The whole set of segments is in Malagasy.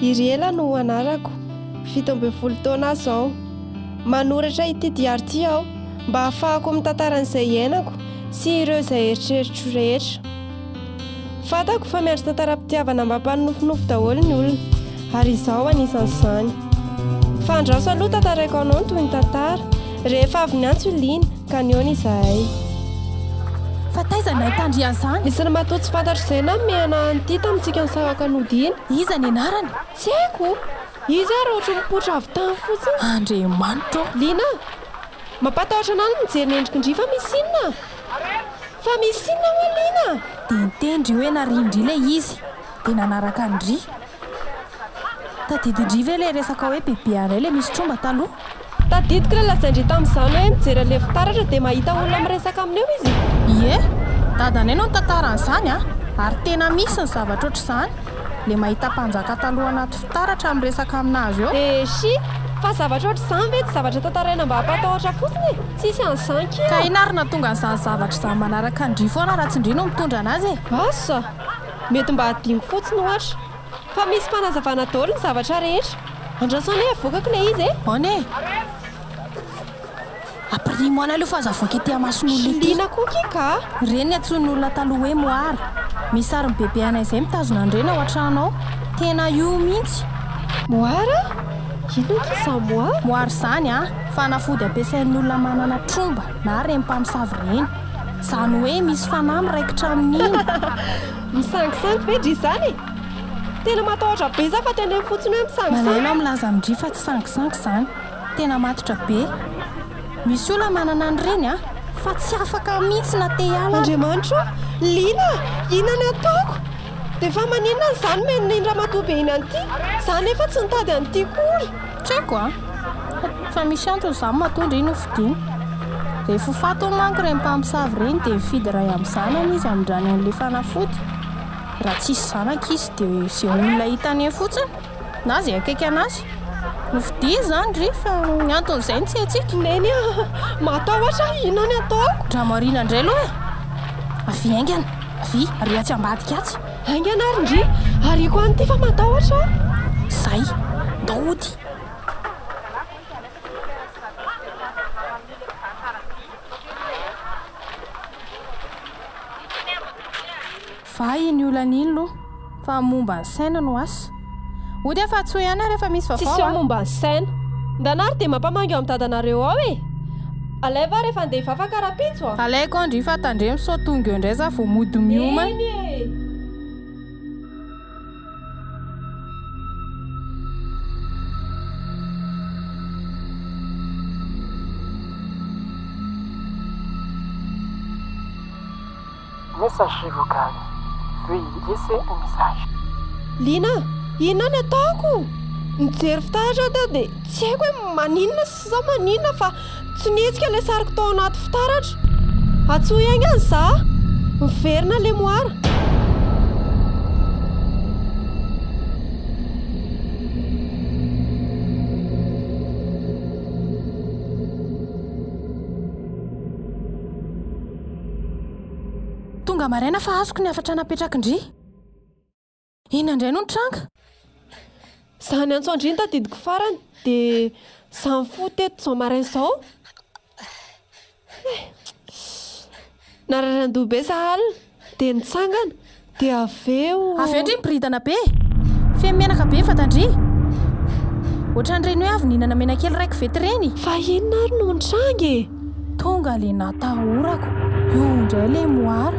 Iriela no anarako, fito ambin'ny folo taona aho izao. Manoratra ity diary ity aho mba hahafahako mitantara an'izay iainako sy ireo izay eritreritro rehetra. Fantako fa miandry tantaram-pitiavana mba mpanonofinofy daholo ny olona, ary izaho anisan'izany. Fa andraso aloha tantaraiko anao ny tohin'ny tantara, rehefa avy niantso i Lina. Ka nihaona izahay. Fa taiza no nahitandry an'izany? Misy ny matoa tsy fantatro izay namehana an'ity tamintsika nisahaka nodiana. Iza ny anarany? Tsy haiko! Izy ary ohatry ny mipoitra avy tany fotsiny. Andriamanitra ô! Lina, mampatahotra anao ny mijery ny endriky ndry fa misy inona? Fa misy inona moa Lina? Dia niteny ndry hoe nariany ndry ilay izy. Dia nanaraka an-dry. Tadidin-dry ve ilay resaka hoe bebe anay ilay misy tromba taloha? Tadidiko ilay lazain-dry tamin'izany hoe mijery an'ilay fitaratra dia mahita olona miresaka aminy eo izy. Ie, dadanay no nitantara an'izany an! Ary tena misy ny zavatra ohatr'izany, ilay mahita mpanjaka taloha anaty fitaratra miresaka amin'azy eo. Eshi! Fa zavatra ohatr'izany ve tsy zavatra tantaraina mba hampatahotra fotsiny e? Tsisy an'izany akia! Ka inona ary no nahatonga an'izany zavatra izany manaraka an-dry foana raha tsy indry no mitondra an'azy e? Asa! Mety mba adino fotsiny ohatra. Fa misy fanazavana daoly ny zavatra rehetra. Andraso anie avoakako ilay izy e! Aona e! Apirimo ana aloha fa aza avoaka ety amason'olona ety. Shilina koa ki ka! Ireny ny antsoin'olona taloha hoe moara. Misy sarin'i bebe anay izay mitazona an'ireny ao an-trano ao. Tena io mihitsy. Moara? Inona ki izany moara? Moara izany an! Fanafody ampiasain'ny olona manana tromba na reny mpamosavy ireny. Izany hoe misy fanahy miraikitra amin'iny. Misangisangy ve dry izany e? Tena matahotra be za fa tendreny fotsiny hoe misangisangy. Malaelo aho milaza amin-dry fa tsy sangisangy izany. Tena matotra be. Misy olona manana an'ireny an! Fa tsy afaka mihitsy na te hiala aza. Andriamanitro o! Liana! Inona no ataoko? Dia fa maninona izany mihaino iny ramatoa be iny an'ity? Za anefa tsy nitady an'ity kory. Tsy haiko a! Fa misy antony izany matoa ndry nofidiany. Rehefa ho faty hono manko ireny mpamosavy ireny dia mifidy iray amin'ny zanany izy hamindrany an'ilay fanafody. Raha tsisy zanaka izy dia izay olona hitany eo fotsiny na izay akaiky anazy no fidiany izany ndry fa ny antony izay no tsy haintsika. Neny a! Matahotra aho, inona ny ataoko? Dramariana indray aloha e! Avia haingana, avia ary atsy ambadika atsy. Haingana ary ndry! Ariako any ity fa matahotra aho! Zay! Ndao hody! Fa iny olana iny loha fa momba ny saina no asa. Ody aho fa tsy ho eo na rehefa misy vaovao a. Tsisy eo momba an'i Saina. Ndana ary dia mampamangy ao amin'ny dadanareo ao e! Alaivo aho rehefa handeha hivavaka rahampitso a! Alaiko ao ndry fa tandremo sao tonga eo indray za vao mody mioma. Eny e! Message vocal, Veuillez laisser un message. Lina, inona ny ataoko? Nijery fitaratra aho teo dia tsy haiko hoe maninona sy sao maninona fa tsy nihetsika ilay sariko tao anaty fitaratra. Antsoy aingana izaho. Miverina ilay moara. Tonga maraina fa azoko ny hafatra napetrakindry. Inona indray no nitranga? Zany antso an-dry no tadidiko farany dia za nifoha teto izao maraina izao. Nararian-doha be za alina dia nitsangana. Dia avy eo. Avy eo ndry miboridana be. Feno menaka be ny vatan-dry. Ohatran'ireny hoe avy nihinana menakely iray kovety ireny. Fa inona ary no nitranga e? Tonga ilay natahorako. Io indray ilay moara.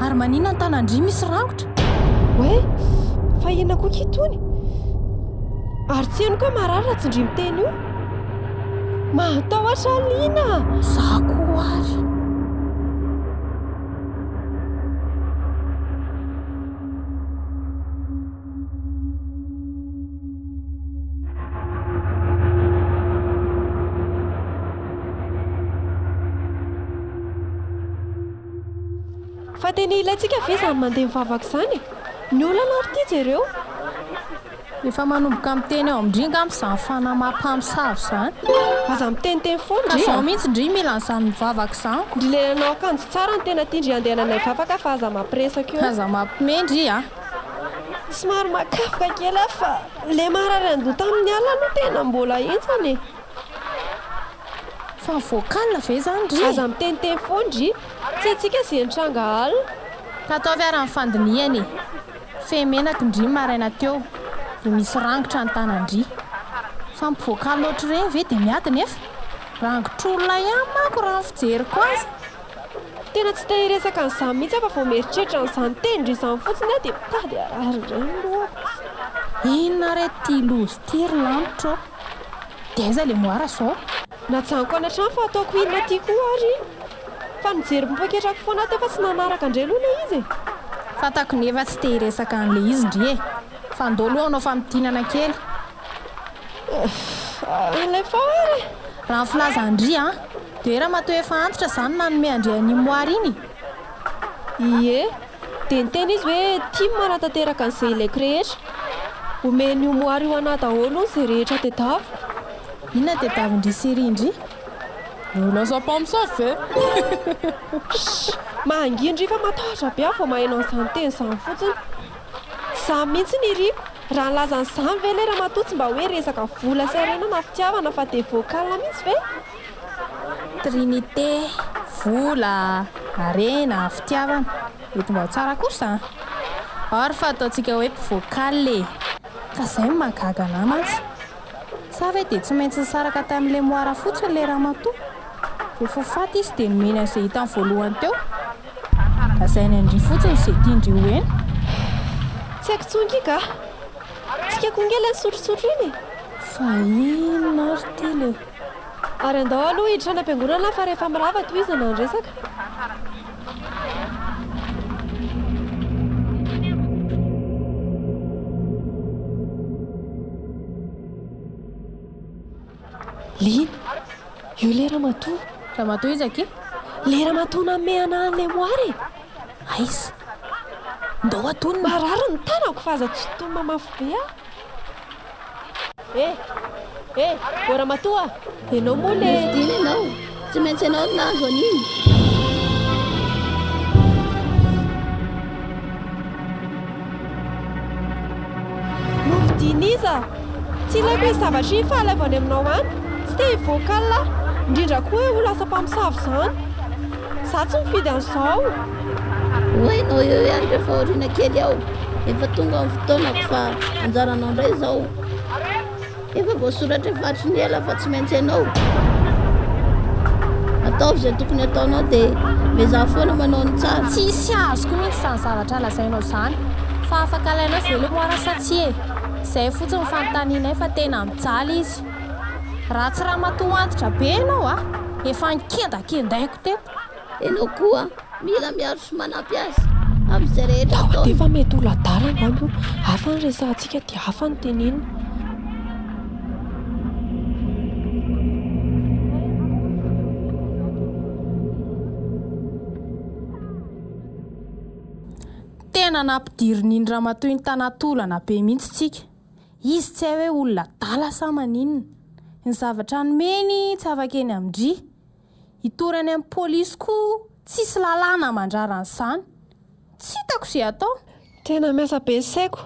Ary maninona ny tanan-dry misy rangotra? Hoe? Fa inona koa ky itony? Ary tsy henoko hoe marary raha tsy ndry miteny io. Mahatahotra liana! Za koa ary. Fa tena ilaintsika ve izany mandeha mivavaka izany e? Ny olana ary ity jereo. Efa manomboka miteny ao amin-dry ngamba izany fanahy maha mpamosavy izany. Aza miteniteny foana ndry a! Zao mihitsy ndry mila an'izany mivavaka izany ko! Ndry le nanao akanjo tsara no tena tia ndry andehananay hivavaka fa aza mampiresaka eo. Aza mampime ndry a! Somary makafoka kely aho fa le marary andoha tamin'ny alina aloha tena mbola henjana e! Fa vocal ve izany ndry? Aza miteniteny foana ndry! Tsy haintsika izay nitranga alina. Ka ataovy ary ny fandinihana e! Fehimenaky ndry maraina teo dia misy rangotra ny tanandry fa mivoaka loatra ireny ve dia miady nefa rangotr'olona ihany manko raha ny fijeriko azy. Tena tsy te hiresaka an'izany mihitsy aho fa vao mieritreritra an'izany tendry izany fotsiny aho dia mitady harary indray ny lohako. Inona re ity loza ity ry lanitra ô! Dia aiza le moara zao? Najanoko any an-trano fa ataoko inona aty koa ary? Fa nijery poketrako foana teo fa tsy nanaraka ndry aloha ilay izy e! Fantako ny efa tsy te hiresaka an'ilay izy ndry e! Fa ndao aloha hanao famintinana kely. Aff, alefa ary e! Raha ny filazan-dry an! Dia hoe ramatoa efa antitra izany nanome an-dry an'iny moara iny e! Ie, dia niteny izy hoe tim hanatanteraka an'izay ilaiko rehetra. Omen'io moara io anah daholo hono izay rehetra tedaviko. Inona tedavin-dry Seri ndry? Nous lançons pas homme sans feu! Shh! Mangihy ndry fa matahotra be aho vao maheno an'izany teny izany fotsiny. Izaho mihitsy ny iriko, raha nilaza an'izany ve le ramatoa tsy mba hoe resaka vola sy harena na fitiavana fa dia vocal mihitsy ve? Trinité, vola, harena, fitiavana, mety mba ho tsara kosa an! Or fa ataontsika hoe mpivocal e! Ka izay no mahagaga anah mantsy. Sa ve dia tsy maintsy nisaraka tamin'i Lemoara fotsiny ilay ramatoa? Rehefa ho faty izy dia nomeny an'izay hitany voalohany teo? Lazainy an-dry fotsiny izay tian-dry ho heno. Tsy haiko intsony ity kah! Tsika koa ange ilay nisotrosotro iny e! Fa inona ary ity le? Ary andao aloha hiditra any am-piangonana fa rehefa mirava tohizana ny resaka. Lina, io ilay ramatoa. Ramatoa iza akia? Ilay ramatoa nanome anà an'ilay moara e! Aiza? Ndao hatonina. Marary ny tanako fa aza tsy tonina mafy be aho. Eh! Eh! O ramatoa! Ianao moa le... Misy dina ianao! Tsy maintsy ianao no nahazo an'iny! Diniza, tsy ilaiko izy zavatra iny fa alaivo any aminao any, tsy te hivoaka aho, indrindra koa hoe ho lasa mpamosavy izany. Za tsy mifidy an'izao. Ho hainao eo ihany rehefa aoriana kely ao. Efa tonga ny fotoanako fa anjaranao indray izao. Efa voasoratra efa hatry ny ela fa tsy maintsy ianao. Ataovy izay tokony ataonao dia miezaha foana manao ny tsara. Tsy hisy azoko mihitsy izany zavatra lazainao izany. Fa afaka alainao ve le moara sa tsia e? Izay fotsiny ny fanontanianay fa tena mijaly izy. Raha tsy ramatoa antitra be ianao a! Efa nikendakendaiko teto. Ianao koa mila miaro sy manampy azy amin'izay rehetra ataony. Dia efa mety ho ladala angamba io. Hafa ny resahantsika dia hafa ny teneniny. Tena nampidirin'iny ramatoa iny tanaty olana be mihitsy tsika. Izy tsy hay hoe olona adala sa maninona. Ny zavatra anomeny tsy afaka eny amin-dry. Hitory any amin'ny polisy koa tsisy lalàna mandrara an'izany. Tsy hitako izay atao. Tena miasa be ny saiko.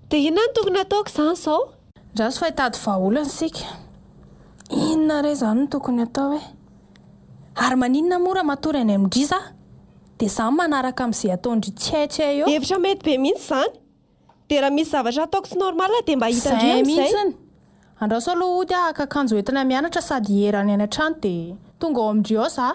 Dia inona no tokony hataoko izany izao? Andraso fa hitady vahaolana isika. Inona re izany no tokony atao e? Ary maninona moa raha matory any amin-dry za? Dia za manaraka amin'izay ataon-dry tsy hay tsy hay eo. Hevitra mety be mihitsy izany. Dia raha misy zavatra ataoko tsy normal dia mba hita ndry amin'izay. Zay mihitsiny. Andraso aloha hody ah haka akanjo hoentina mianatra sady hierany any an-trano dia tonga ao amin-dry ao zah.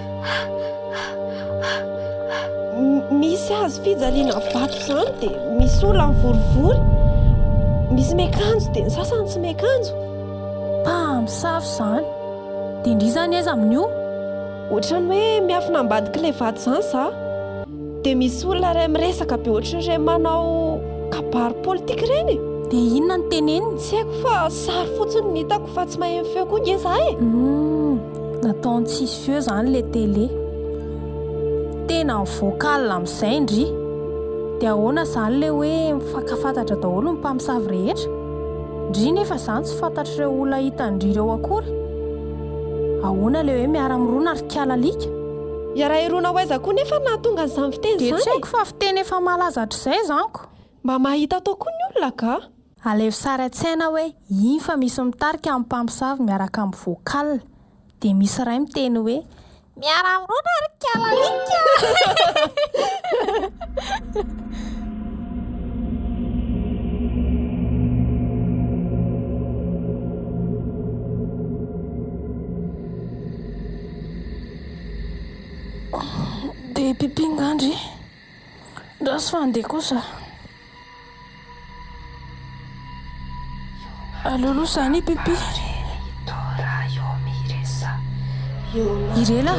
Misy hazo fijaliana vato izany dia misy olona mivorivory. Misy miakanjo dia ny sasany tsy miakanjo. Mpamosavy izany. Dia ndry izany aiza amin'io? Ohatran'ny hoe miafina ambadik'ilay vato izany izaho. Dia misy olona iray miresaka be ohatran'ireny manao kabary politika ireny. Dia inona no teneniny? Tsy haiko fa sary fotsiny no hitako fa tsy maheno feo koa ange izaho e. Nataony tsisy feo zany le télé. Tena ny vocal amizay ndry. De ahoana zany le hoe mifankafantatra daholo ny mpamosavy rehetra? Ndry nefa zany tsy fantatr'ireo olona hitandry ireo akory? Ahoana le hoe miara mirona ry kala alika? Hiara-hirona ho aiza koa nefa no nahatonga an'izany fiteny izany e? De tsy haiko fa fiteny efa malaza hatrizay zany ko. Mba mahita atao koa ny olona ka! Alevo sary an-tsaina hoe iny fa misy mitarika amin'ny mpamosavy miaraka amin'ny vocal. Dia misy iray miteny hoe, Miara-mirona ry kalalika! Dia pipy ngah ndry? Ndraso fa andeha kosa. Aleo aloha zany pipi. Irela,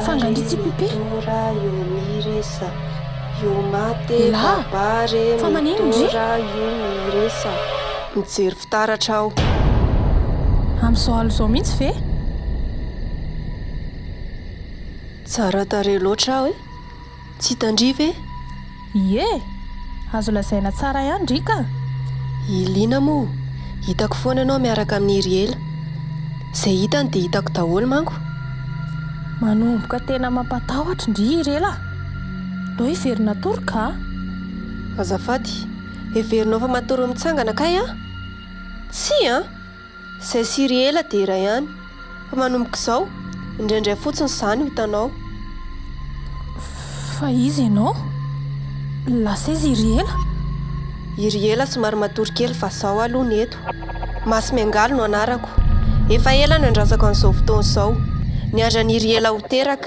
fangandritsy pipi. Ela, fa manino ndry? Mijery fitaratra aho. Amin'izao alina izao mihitsy ve? Tsara tarehy loatra aho e. Tsy hitandria ve? Ie! Azo lazaina tsara ihany ndry ka! I Lina moa, hitako foana ianao miaraka amin'i Iriela. Izay hitany dia hitako daholo manko. Manomboka tena mampatahotra ndry i Iriela a! Ndao hevero natory ka! Azafady, heverinao fa matory mitsangana kay aho? Tsia an! Zay siry ela dia iray ihany fa manomboka izao indraindray fotsiny izany ho hitanao. Fa iza ianao? Lasa izy i Riela? I Riela somary matory kely fa izaho aloha ny eto. Masy Miangaly no anarako. Efa ela no iandrasako an'izao fotoana izao. Niandry an'i Riela ho teraka.